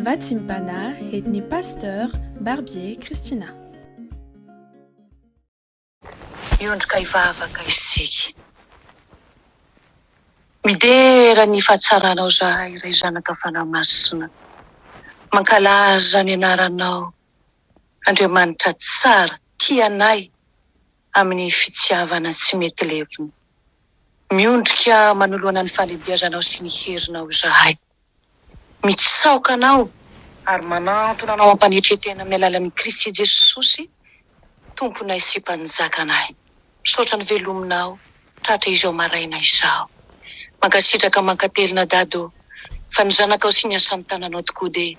Vatsimbana et ny Pasteur Barbier Christina. Miondrika hivavaka isika. Midera ny fahatsaranao izahay, Ray Zanaka Fanahy Masina. Mankalaza ny Anaranao, Andriamanitra tsara, tia anay. amin'ny fitiavana tsy mety levona. Miondrika manoloana ny fahalehibiazanao sy ny herinao izahay. Mitsaoka anao ary manantona anao hampanetren-tena amin'ny alalan'i Kristy Jesosy Tomponay sy Mpanjakanay. Misaotra ny velominao. tratra izao maraina izao. Mankasitraka mankatelina dada o! Fa ny zanakao sy ny asan'ny tananao tokoa dia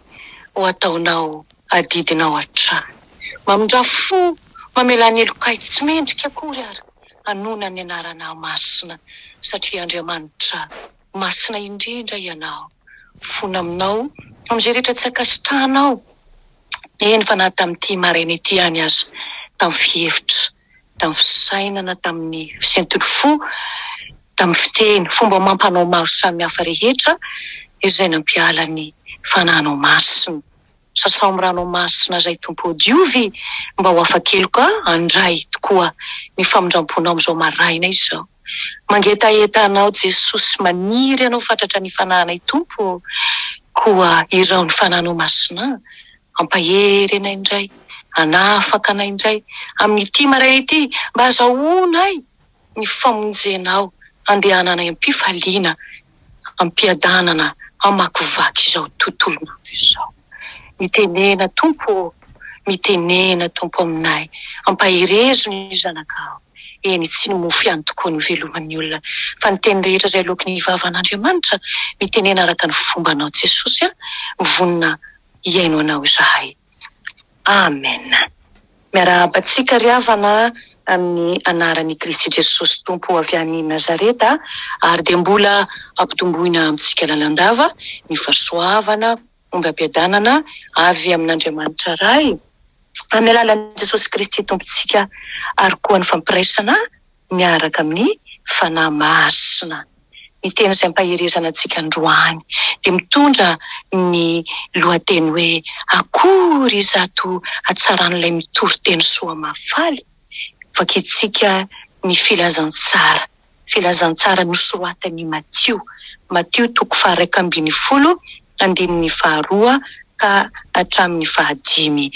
ho ataonao adidinao hatrany. Mamindrà fo, mamelà ny helokay tsy mendrika akory ary hanoina ny anarana masina satria Andriamanitra masina indrindra ianao. Fona aminao amin'izay rehetra tsy ankasitrahanao, eny fa na tamin'ity maraina ity ihany aza, tamin'ny fihevitra. tamin'ny fisainana, tamin'ny fisentin'ny fo, tamin'ny fiteny, fomba amam-panao maro samihafa rehetra izay nampiala ny Fanahinao Masina. Sasao amin'ny Ranao Masina izay, Tompo ô, diovy mba ho afa-keloka handray tokoa ny famindram-ponao amin'izao maraina izao. Mangetaheta Anao, Jesosy, maniry Anao fatratra ny fanahinay, Tompo ô, koa irao ny Fanahinao Masina. Hampahery anay indray, hanafaka anay indray amin'ity maraina ity, mba azahoanay ny famonjenao, handehananay am-pifaliana, am-piadanana hamakivaky izao tontolon'andro izao. Mitenena, Tompo ô, mitenena, Tompo, aminay, ampaherezo ny zanakao. Eny, tsy ny mofo ihany tokoa no iveloman'ny olona, fa ny teny rehetra izay loaky ny vavan'Andriamanitra. Mitenena araka ny fombanao, Jesosy a, vonona hihaino anao izahay. Amen. Miarahaba antsika ry havana amin'ny anaran' i Kristy Jesosy Tompo avy any Nazareta ary dia mbola ampitomboina amintsika lalandava ny fahasoavana omby ampiadanana avy amin' Andriamanitra Ray amin'ny alalan'i Jesosy Kristy Tompontsika ary koa ny fampiraisana miaraka amin'ny Fanahy Masina. Ny teny izay ampaherezana antsika androany dia mitondra ny lohateny hoe Akory izato hatsaran'ilay mitory teny soa mahafaly! Vakintsika ny Filazantsara, Filazantsara nosoratan'i Matio, Matio toko faha-iraika ambin'ny folo andininy faharoa ka hatramin'ny fahadimy.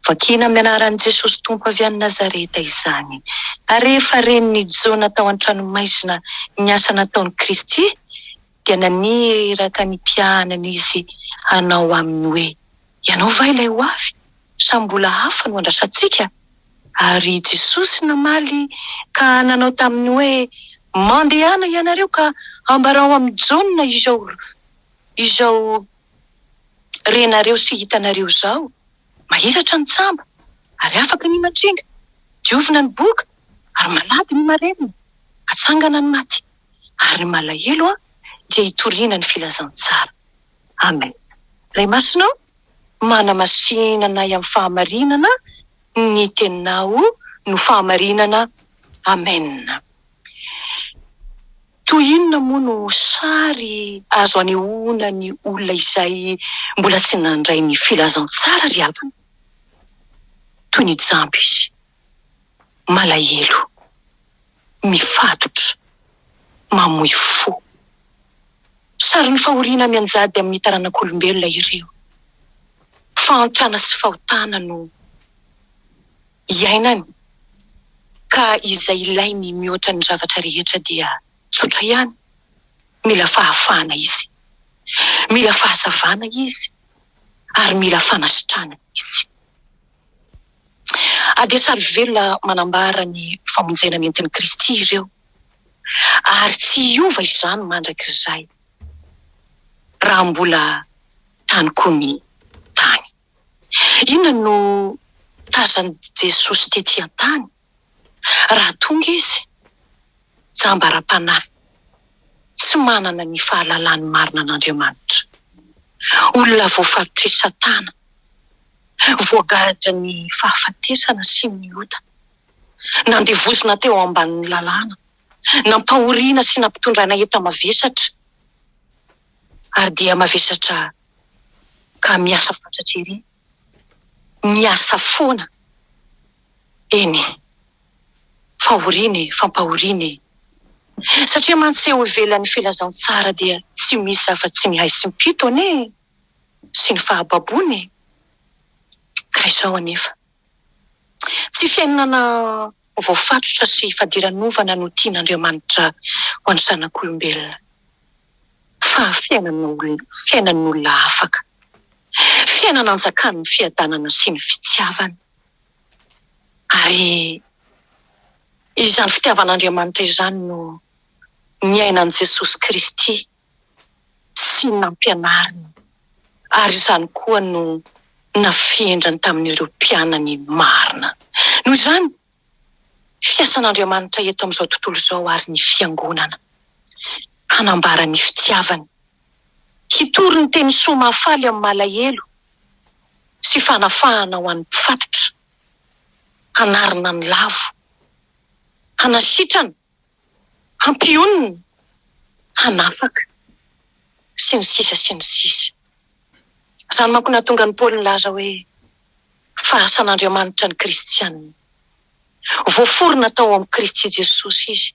Vakina amin'ny anaran'i Jesosy Tompo avy any Nazareta izany. Ary rehefa ren'i Jona tao an-tranomaizina ny asa nataon'i Kristy, dia naniraka ny mpiahanany izy hanao aminy hoe, Ianao va ilay ho avy, sa mbola hafa no andrasantsika? Ary Jesosy namaly ka nanao taminy hoe, Mandehana ianareo ka ambarao amin'i Jona izao, Izao renareo sy hitanareo izao, mahiratra ny tsamba ary afaka ny mandringa, diovina ny boka ary malady ny marenina, atsangana ny maty ary ny malahelo an dia itoriana ny filazantsara. Amen. Ray Masina o, manamasina anay amin'ny fahamarinana ny teninao no fahamarinana. Amen. Toy inona moa no sary azo anehoana ny olona izay mbola tsy nandray ny filazantsara ry havana? Toy ny jamba izy, malahelo, mifatotra, mamoy fo. Sarin'ny fahoriana mianjady amin'ny taranak'olombelona ireo. Fahantrana sy fahotana no. iainany ka izay ilainy mihoatra ny zavatra rehetra dia tsotra ihany, mila fahafahana izy, mila fahazavana izy ary mila fanasitranana izy. Adesarivela manambara ny famonjena nentin'i Kristy ireo ary tsy hiova izany mandrakizay raha mbola tany koa ny tany. Inona no tazan'i Jesosy tetỳ an-tany raha tonga izy? Jamba ara-panahy, tsy manana ny fahalalany marina an'Andriamanitra, olona voafaritr'i Satana, voagadran'ny fahafatesana sy ny ota, nandevozina teo ambanin'ny lalàna, nampahoriana sy nampitondraina enta-mavesatra. ary dia mavesatra ka miasa fatratra ery, miasa foana eny e! Fahoriana e! Fampahoriana e! Satria mantsy eo ivelan'ny filazantsara dia tsy misy afa-tsy ny haisim-pito anie e! sy ny fahababoana e! Ka izao anefa. Tsy fiainana voafatotra sy fadiranovana no tian'Andriamanitra ho an'ny zanak'olombelona, fa fiainana fiainan'olona afaka, fiainana anjakan'ny fiadanana sy ny fitiavana. Ary izany fitiavan'Andriamanitra izany no niainan'i Jesosy Kristy. sy nampianariny ary izany koa no nafendrany tamin'ireo mpianany marina. Noho izany, fiasan'Andriamanitra eto amin'izao tontolo izao ary ny Fiangonana, hanambara ny fitiavany, hitory ny teny soa mahafaly amin'ny malahelo sy fanafahana ho an'ny mpifatotra, hanarina ny lavo, hanasitrana hampionona, hanafaka, sy ny sisa sy ny sisa. Izany manko no nahatonga an'i Paoly nilaza hoe, Fa asan'Andriamanitra ny kristiana. Voaforona tao amin'i Kristy Jesosy izy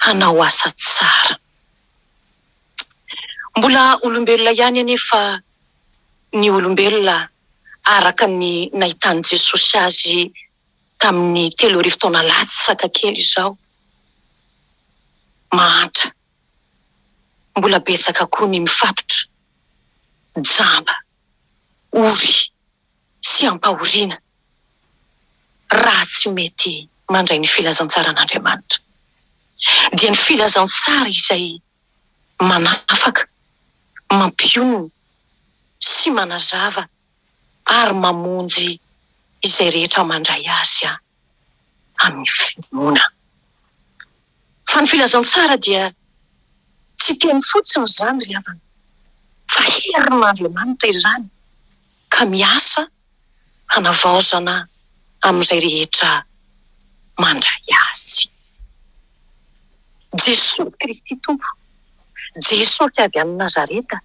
hanao asa tsara. Mbola olombelona ihany anefa ny olombelona araka ny nahitan'i Jesosy azy tamin'ny telo arivo taona latsaka kely izao. Mahantra, mbola betsaka koa ny mifatotra, jamba, ory sy ampahoriana raha tsy mety mandray ny filazantsaran'Andriamanitra. Dia ny filazantsara izay manafaka, mampionona sy manazava ary mamonjy izay rehetra mandray azy amin'ny finoana. Fa ny filazantsara dia tsy teny fotsiny izany ry havana, fa herin'Andriamanitra izany ka miasa hanavaozana amin'izay rehetra mandray azy. Jesosy Kristy Tompo, Jesosy avy any Nazareta.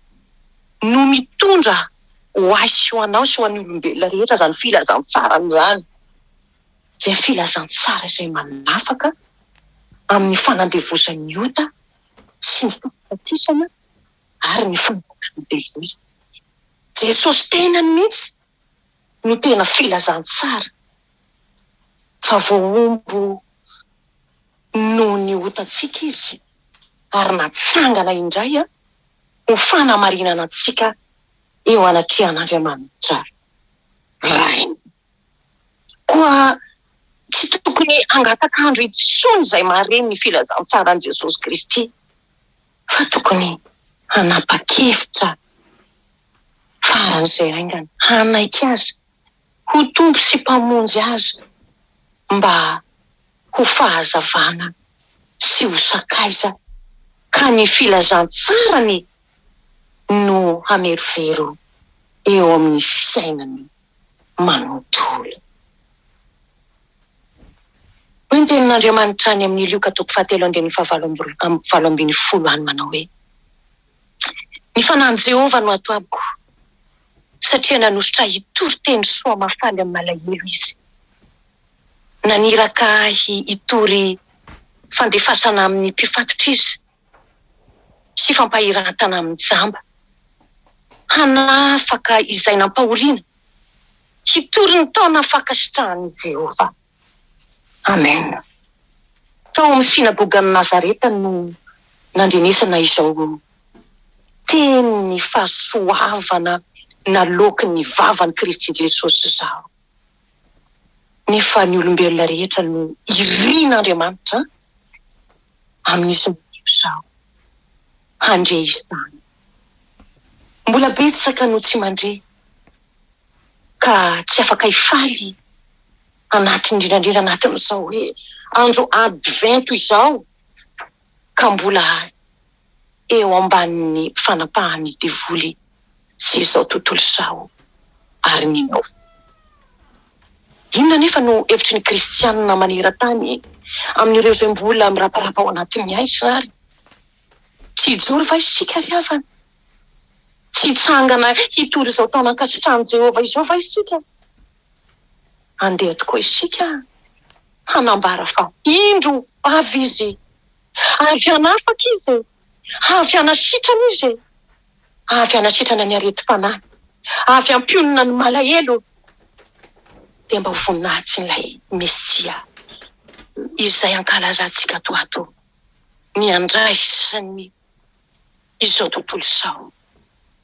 no mitondra ho ahy sy ho anao sy ho an'ny olombelona rehetra izany filazantsarany izany, izay filazantsara izay manafaka amin'ny fanandevozan'ny ota sy ny fahafatesana ary ny fanavotran'ny devoly. Jesosy tenany mihitsy no tena filazantsara fa voahombo noho ny otantsika izy ary natsangana indray. ho fanamarinana antsika eo anatrehan'Andriamanitra Rainy. Koa tsy tokony hangataka-andro intsony izay maharen'ny filazantsaran'i Jesosy Kristy, fa tokony hanapa-kevitra faran'izay haingana hanaiky Azy. ho Tompo sy Mpamonjy azy mba ho fahazavana sy ho sakaiza ka ny filazantsarany no hamerovero eo amin'ny fiainany manontolo. Hoy ny tenin'Andriamanitra any amin'ny Lioka toko fahatelo andininy fahavalo amby roa, valo ambin'ny folo any manao hoe. Ny Fanahin'i Jehovah no ato amiko, satria nanositra ahy hitory teny soa mahafaly amin'ny malahelo izy. Naniraka ahy hitory fandefasana amin'ny mpifatotra izy, sy fampahiran-tana amin'ny jamba. Hanafaka izay nampahoriana, hitory ny taona fankasitrahan'i Jehovah. Amen. Tao amin'ny synagogan'i Nazareta no nandrenesana izao tenin'ny fahasoavana naloaky ny vavan'i Kristy Jesosy izaho. Nefa ny olombelona rehetra no irin'Andriamanitra amin'izy madio izaho handre izany. Mbola betsaka no tsy mandre. ka tsy afaka hifaly anaty indrindra indrindra anatin'izao hoe andro advento izao ka mbola eo ambanin'ny fanapahan'ny devoly sy izao tontolo izao ary mino. Inona anefa no hevitry ny kristianina maneran-tany amin'ireo izay mbola miraparapa ao anatin'ny haizina ary? Tsy hijoro va isika ry havana? Tsy hitsangana hitory izao taona ankasitrahan'i Jehovah izao va isika? Andeha tokoa isika hanambara fa indro avy izy! Avy hanafaka izy e! Avy hanasitrana izy e! Avy hanasitrana ny aretim-panahy, avy hampionona ny malahelo. Dia mba ho voninahitsin'ilay Mesia izay ankalazantsika toato. ny handraisany izao tontolo izao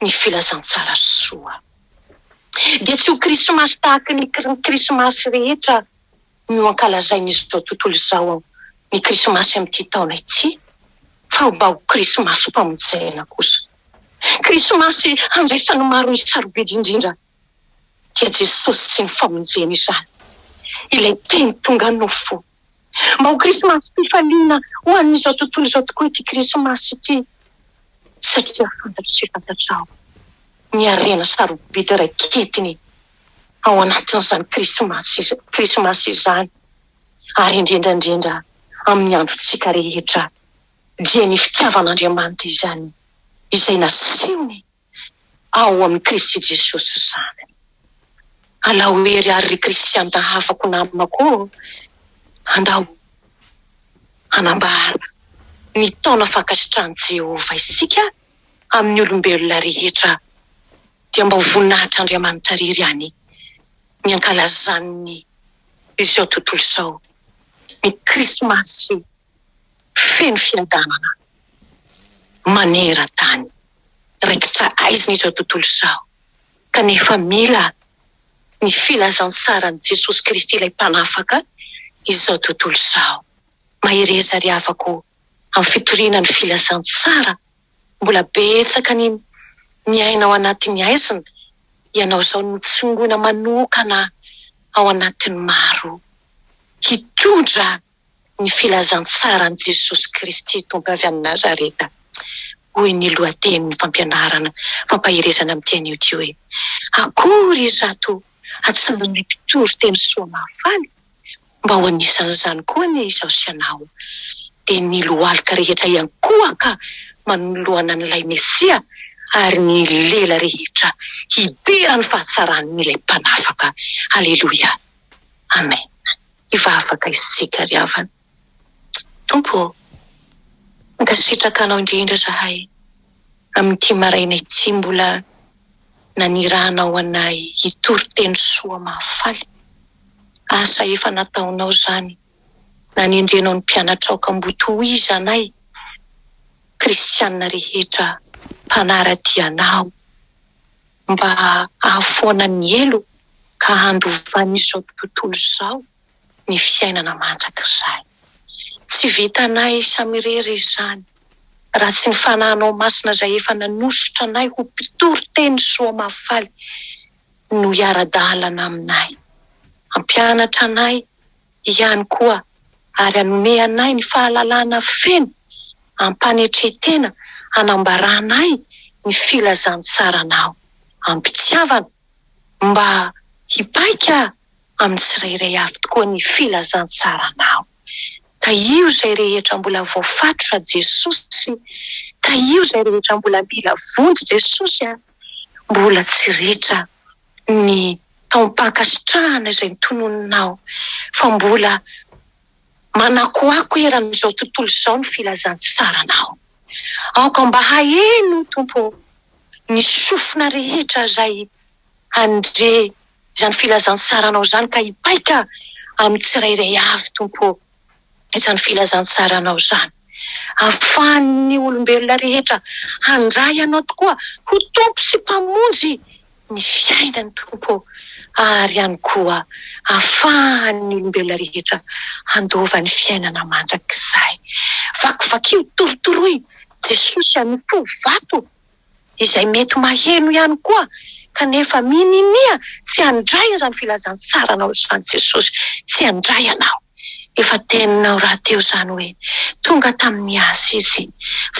ny filazantsara soa. Dia tsy ho krismasy tahaka ny krismasy rehetra no ankalazain'izao tontolo izao ny krismasy amin'ity taona ity, fa mba ho krismasim-pamonjena kosa. Krismasy handraisan'ny maro ny sarobidy indrindra dia Jesosy sy ny famonjeny izany, ilay teny tonga nofo. Mba ho Krismasy-pifaliana ho an'izao tontolo izao tokoa ity Krismasy ity, satria fantatro sy fantatrao ny harena sarobidy raiketiny ao anatin'izany Krismasy Krismasy izany, ary indrindra indrindra amin'ny androntsika rehetra, dia ny fitiavan'Andriamanitra izany izay nasehony ao amin'i Kristy Jesosy izany. Alao hery àry ry kristianina hafako namako ô! Andao hanambara ny taona fankasitrahan'i Jehovah isika amin'ny olombelona rehetra, dia mba ho voninahitr'Andriamanitra irery ihany ny hankalazan'ny izao tontolo izao ny Krismasy. feno fiadanana maneran-tany. Raikitra aizina izao tontolo izao, kanefa mila ny filazantsaran'i Jesosy Kristy ilay Mpanafaka izao tontolo izao. Mahereza ry havako amin'ny fitoriana ny filazantsara, mbola betsaka ny miaina ao anatin'ny aizina, ianao izao no tsongoina manokana ao anatin'ny maro hitondra ny filazantsaran'i Jesosy Kristy Tompo avy any Nazareta, hoy ny lohatenin'ny fampianarana fampaherezana amin'ity anio ity hoe, Akory izato hatsaran'ny mpitory teny soa mahafaly, mba ho anisan'izany koa anie izaho sy ianao, dia ny lohalika rehetra hiankohaka manoloana an'ilay Mesia, ary ny lela rehetra hidera ny fahatsaran'ilay Mpanafaka. Aleloia. Amena. efa afaka isika ry havana. Tompo ô, mankasitraka Anao indrindra zahay amin'ity maraina ity mbola nanirahanao anay hitory teny soa mahafaly. Asa efa nataonao izany, nanendrenao ny mpianatrao ka mbo tohiza anay Kristianina rehetra mpanara-dia Anao. mba hahafoana ny helo ka handovan'izao tontolo izao ny fiainana mandrakizay. Tsy vitanay samirery izany raha tsy ny Fanahinao Masina izay efa nanosotra anay ho mpitory teny soa mahafaly no hiara-dalana aminay. Hampianatra anay ihany koa ary hanome anay ny fahalalana feno am-panetren-tena hanambaranay ny filazantsaranao am-pitiavana mba hipaika amin'ny tsirairay avy tokoa ny filazantsaranao. Tahio izay rehetra mbola voafatotra Jesosy, tahio izay rehetra mbola mila vonjy Jesosy a! Mbola tsy ritra. ny taom-pankasitrahana izay notononinao fa mbola manakoako eran'izao tontolo izao ny filazantsaranao. Aoka mba haheno o Tompo ô ny sofina rehetra izay handre izany filazantsaranao izany ka hipaika amin'ny tsirairay avy Tompo ô. izany filazantsara anao izany. Ahafahan'ny olombelona rehetra handray anao tokoa ho Tompo sy Mpamonjy ny fiainany Tompo ô, ary ihany koa ahafahan'ny olombelona rehetra handova ny fiainana mandrakizay. Vakivakio, torotoroy Jesosy a, mitovo vato. izay mety maheno ihany koa kanefa mininia tsy handray izany filazantsaranao izany Jesosy, tsy handray ianao. Efa teninao rahateo izany hoe tonga tamin'ny Azy Izy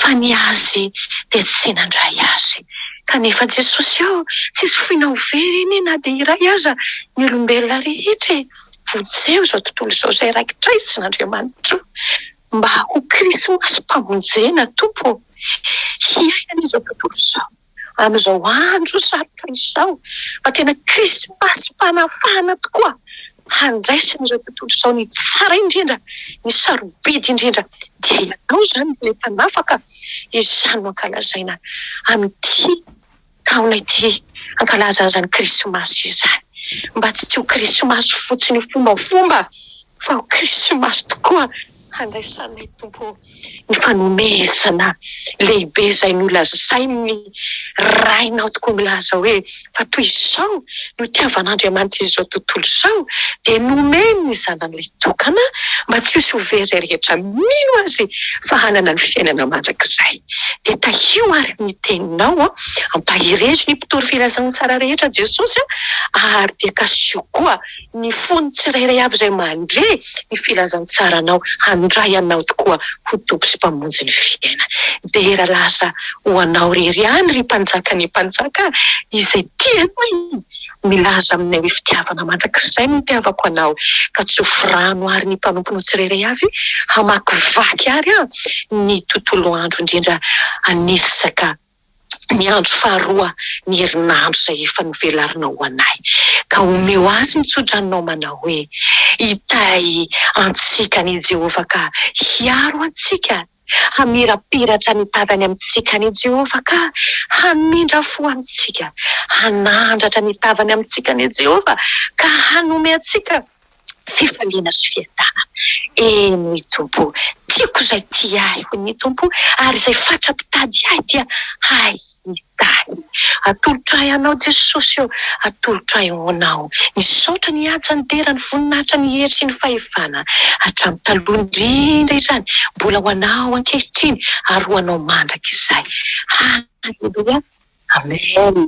fa ny Azy dia tsy nandray Azy. Kanefa Jesosy ô, tsisy foinao ho very anie na dia iray aza ny olombelona rehetra e! Vonjeo izao tontolo izao izay raikitra izina Andriamanitra o! Mba ho krismasy famonjena Tompo ô! Hiaina an'izao tontolo izao, amin'izao andro sarotra izao, fa tena krismasim-panafahana tokoa, handraisan'izao tontolo izao ny tsara indrindra, ny sarobidy indrindra, dia Ianao izany ilay Mpanafaka, izany no ankalazaina amin'ity. taona ity hankalaza izany krismasy izany mba tsy ho krismasy fotsiny fombafomba fa ho krismasy tokoa handraisanay Tompo ny fanomezana lehibe izay nolazain'ny Rainao tokoa milaza hoe fa toy izao no itiavan'Andriamanitra izao tontolo izao dia nomeny ny zanany laitokana mba tsy ho sovery rehetra mino Azy fa hanana ny fiainana mandrakizay. dia tahio ary ny teninao, ampaherezo ny mpitory filazana tsara rehetra Jesosy, ary dia kasio koa ny fon'ny tsirairay avy izay mandre ny filazantsaranao handray anao tokoa ho Tompo sy Mpamonjy ny fiainany. Dera lasa ho anao rery ihany ry Mpanjaka ny Mpanjaka izay tianao. Milaza aminay hoe fitiavana mandrakizay no itiavako anao ka tsoforano ary ny mpanomponao tsirairay avy hamakivaky ary an ny tontolo andro indrindra an'isaka ny andro faharoa ny herinandro izay efa novelarinao ho anay ka omeo azy ny tsodranonao manao hoe hitahy antsika ny Jehovah ka hiaro antsika Hamirapiratra ny tavany amintsika anie Jehovah ka hamindra fo amintsika. Hanandratra ny tavany amintsika anie Jehovah ka hanome antsika fifaliana sy fiadanana. Eny Tompo o, tiako izay tia ahy, hoy ny Tompo, ary izay fatra-pitady ahy dia hay. ny tany. Atolotro ahy anao Jesosy ô, atolotro ahy honao. Misaotra ny Anja nidera ny voninahitra ny hery sy ny fahefana hatramin'ny taloha indrindra izany, mbola ho anao ankehitriny ary ho anao mandrakizay. Haleloia Amen.